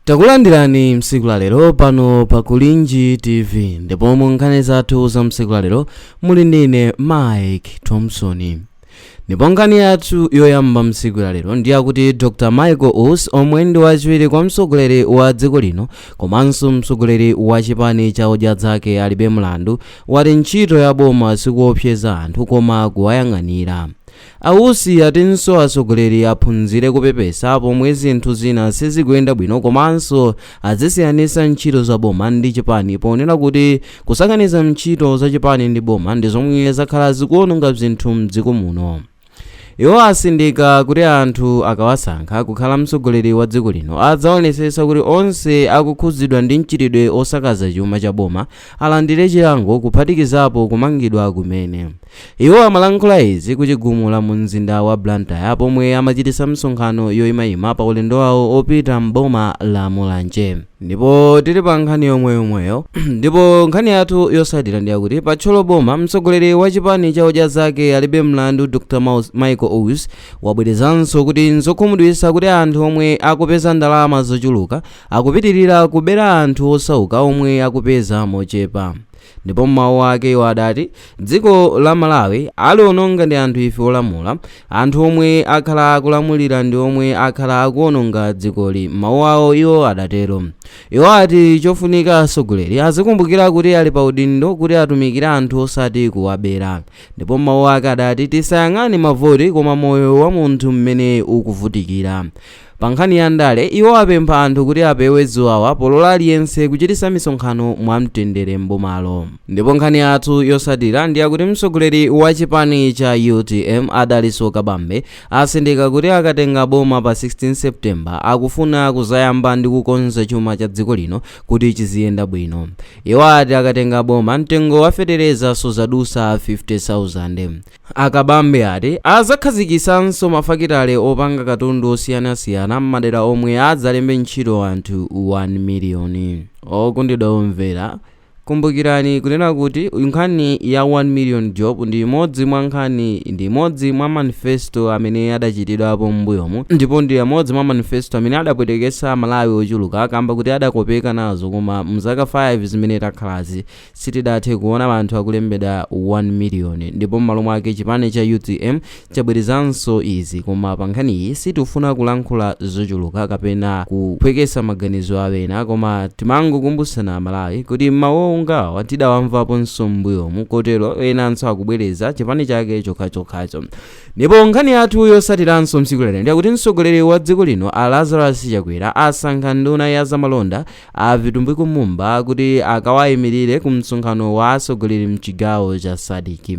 takulandirani msiku la lero pano pa kulinji tv ndipo mu nkhani zathu za msiku la lero muli ndine mike thompson ndipo nkhani yathu yoyamba msiku la lero ndi yakuti dr michael usi omwe ndi wachiwiri kwa mtsogoleri wa dziko lino komanso mtsogoleri wa chipani cha odya zake alibe mlandu wati ntchito ya boma sikuopseza anthu koma kuwayang'anira A Usi atinso atsogoleri aphunzire kupepesa pomwe zinthu zina sizikuyenda bwino komanso azisiyanisa ntchito za boma ndi chipani ponena kuti kusakaniza ntchito za chipani ndi boma ndi zomwe zakhala zikuononga zinthu mdziko muno. Iwo atsindika kuti anthu akawasankha kukhala mtsogoleri wa dziko lino adzaonetsetsa kuti onse akukhudzidwa ndi mchitidwe osakaza chuma cha boma alandire chilango kuphatikizapo kumangidwa kumene. Iwo amalankhula izi ku Chigumula mu mzinda wa Blantyre pomwe amachititsa msonkhano yoyimayima pa ulendo wawo opita m'boma la Mulanje. Ndipo tili pa nkhani yomweyomweyo ndipo nkhani yathu yotsatira ndi yakuti pa Thyolo boma mtsogoleri wa chipani cha odya zake alibe mlandu Dr. Maus, Michael Usi wabwerezanso kuti nzokhumudwitsa kuti anthu omwe akupeza ndalama zochuluka Akupitirira kubera anthu osauka omwe akupeza mochepa. Ndipo m'mawu ake iwo adati dziko la Malawi aliononga ndi anthu ife olamula, anthu omwe akhala akulamulira ndi omwe akhala akuononga dzikoli, m'mawu awo iwo adatero. Iwo ati chofunika atsogoleri azikumbukira kuti ali pa udindo kuti atumikire anthu osati kuwabera. Ndipo m'mawu ake adati tisayang'ane mavoti koma moyo wa munthu mmene ukuvutikira. Pa nkhani ya ndale, iwo apempha anthu kuti apewe ziwawa polola aliyense kuchititsa misonkhano mwa mtendere m'bomalo. Ndipo nkhani yathu yotsatira ndi yakuti mtsogoleri wa chipani cha utm a Dalitso Kabambe atsindika kuti akatenga boma pa 16 September akufuna kudzayamba ndi kukonza chuma cha dziko lino kuti chiziyenda bwino. Iwo ati akatenga boma mtengo wa fetereza sudzadutsa 50,000. A Kabambe ati adzakhazikitsanso mafakitale opanga katundu osiyanasiyana m'madera omwe adzalembe ntchito anthu 1 miliyoni. Okondedwa omvera, kumbukirani kunena kuti nkhani ya 1 million job ndi imodzi mwa nkhani ndi imodzi mwa manifesto amene adachitidwapo m'mbuyomu ndipo ndi amodzi mwa manifesto amene adapweteketsa amalawi ochuluka kamba kuti adakopeka nazo koma mzaka 5 zimene takhalazi Sitidathe kuona anthu akulembedwa 1 million ndipo mmalo mwake chipani cha utm chabwerezanso izi koma pankhaniyi sitifuna kulankhula zochuluka kapena kuphwekesa maganizo a ena koma timangokumbusana amalawi kuti mau ngawa tidawamvaponso mmbuyomu kotero enanso akubwereza chipani chake chokhachokhacho ndipo nkhani yathu yosatiranso mtsiku lalero ndiyakuti mtsogoleri wa dziko lino a Lazarus Chakwera asankha nduna ya zamalonda a Vitumbiko Mumba kuti akawayimirire ku msonkhano wa atsogoleri mchigawo cha SADC.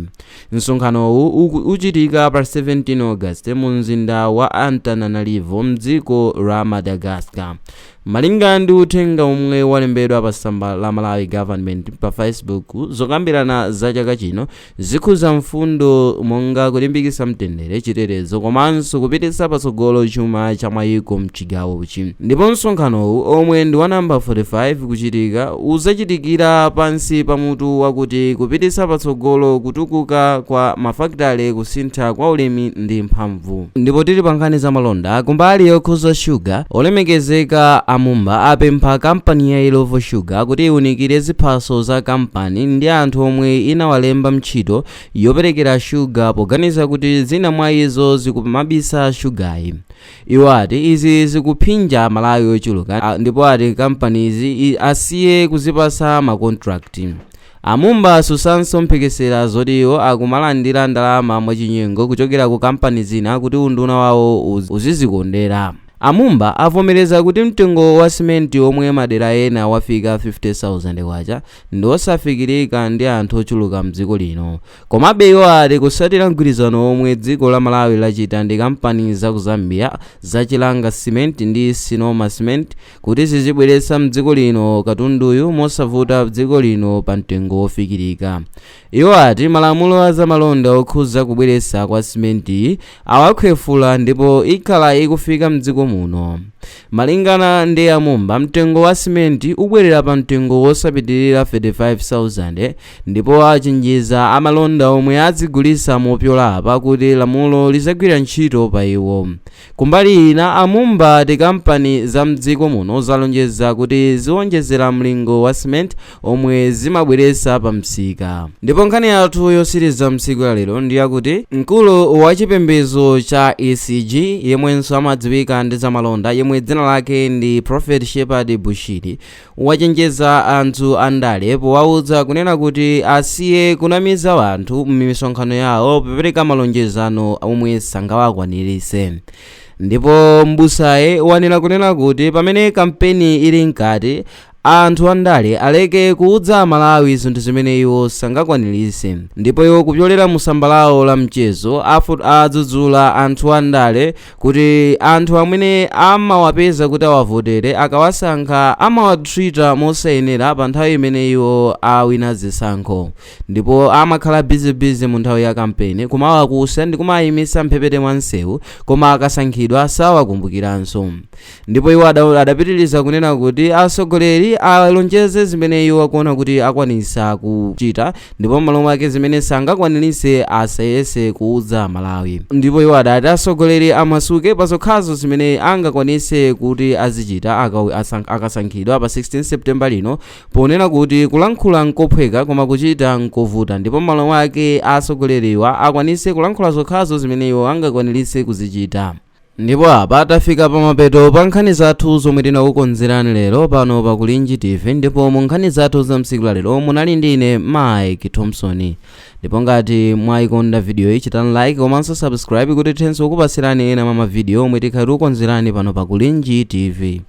Msonkhanowu uchitika pa 17 August mu mzinda wa Antananarivo mdziko la Madagascar. Malinga ndi uthenga omwe walembedwa pa tsamba la Malawi Government pa Facebook, zokambirana za chaka chino Zikhudza mfundo monga kulimbikitsa mtendere, chitetezo komanso kupititsa patsogolo chuma cha mayiko mchigawochi. Ndipo msonkhanowu omwe ndi wa number 45 kuchitika, udzachitikira pansi pa mutu wakuti Kupititsa patsogolo kutukuka kwa mafakitale kusintha kwa ulimi ndi mphamvu. Ndipo tili pa nkhani za malonda, ku mbali yokhudza shuga, olemekezeka a Mumba apempha kampani ya Illovo Sugar kuti iwunikire ziphaso za kampani ndi anthu omwe inawalemba ntchito yoperekera shuga poganiza kuti zina mwa izo zikumabisa shugayi. Iwo ati izi zikuphinja amalawi ochuluka ndipo ati kampanizi asiye kuzipatsa ma contract. A Mumba atsusanso mphekesera zoti iwo akumalandira ndalama mwachinyengo kuchokera ku kampani zina kuti unduna wawo uzizikondera. A Mumba avomereza kuti mtengo wa simenti omwe madera ena wafika K50,000 ndi osafikirika ndi anthu ochuluka m'dziko lino. Komabe iwo ati kutsatira mgwirizano womwe dziko la Malawi lachita ndi kampani za ku Zambia za Chilanga Cement ndi Sinoma Cement, kuti zizibweretsa mdziko lino katunduyu mosavuta mdziko lino pa mtengo wofikirika iwo ati malamulo a zamalonda okhuza kubweretsa kwa simenti awakhwefula ndipo ikhala ikufika mdziko muno malingana ndi amumba mtengo wa simenti ubwerera pa mtengo wosapitirira 35000 ndipo achenjeza amalonda omwe adzigulisa mopyola apa kuti lamulo lizagwira ntchito pa iwo Kumbali ina, a Mumba ati kampani za m'dziko muno zalonjeza kuti ziwonjezera mlingo wa cement omwe zimabweretsa pa msika. Ndipo nkhani yathu yotsiriza mtsiku la lero ndi yakuti mkulu wa chipembezo cha ECG yemwenso amadziwika ndi zamalonda yemwe dzina lake ndi Prophet Shepherd Bushiri wachenjeza anthu andale powauza kunena kuti asiye kunamiza anthu m'misonkhano yawo popereka malonjezano omwe sangawakwanirise ndipo mbusayi wanena kunena kuti pamene kampeni ili mkati anthu andale aleke kuudza amalawi zinthu zimene iwo sangakwanirise ndipo iwo kupyolera mu tsamba lawo la mchezo adzudzula anthu andale kuti anthu amene amawapeza kuti awavotere akawasankha amawatreata mosayenera pa nthawi imene iwo awina zisankho ndipo amakhala bizibizi mu nthawi ya kampeni kumawakusa ndi kumawayimisa mphepete mwa msewu koma akasankhidwa sawakumbukiranso Ndipo iwo adapitiriza kunena kuti atsogoleri alonjeze zimene iwo akuona kuti akwanisa kuchita ndipo m'malo mwake zimene sangakwanirise asayese kuudza amalawi ndipo iwo adati atsogoleri amasuke pa zokhazo zimene angakwanise kuti azichita akasankhidwa pa 16 september lino ponena kuti kulankhula nkophweka koma kuchita nkovuta ndipo m'malo mwake atsogoleriwa akwanise kulankhula zokhazo zimene iwo angakwanirise kuzichita Ndipo apa tafika pamapeto pa nkhani zathu zomwe tinakukonzerani lero pano pa Kulinji TV ndipo mu nkhani zathu za tsiku la lero munali ndi ine Mike Thompson ndipo ngati mwayikonda video iyi chitani like komanso subscribe kuti tithenso kukupatsirani ena mwa mavidiyo omwe tikhala tikukonzerani pano pa Kulinji TV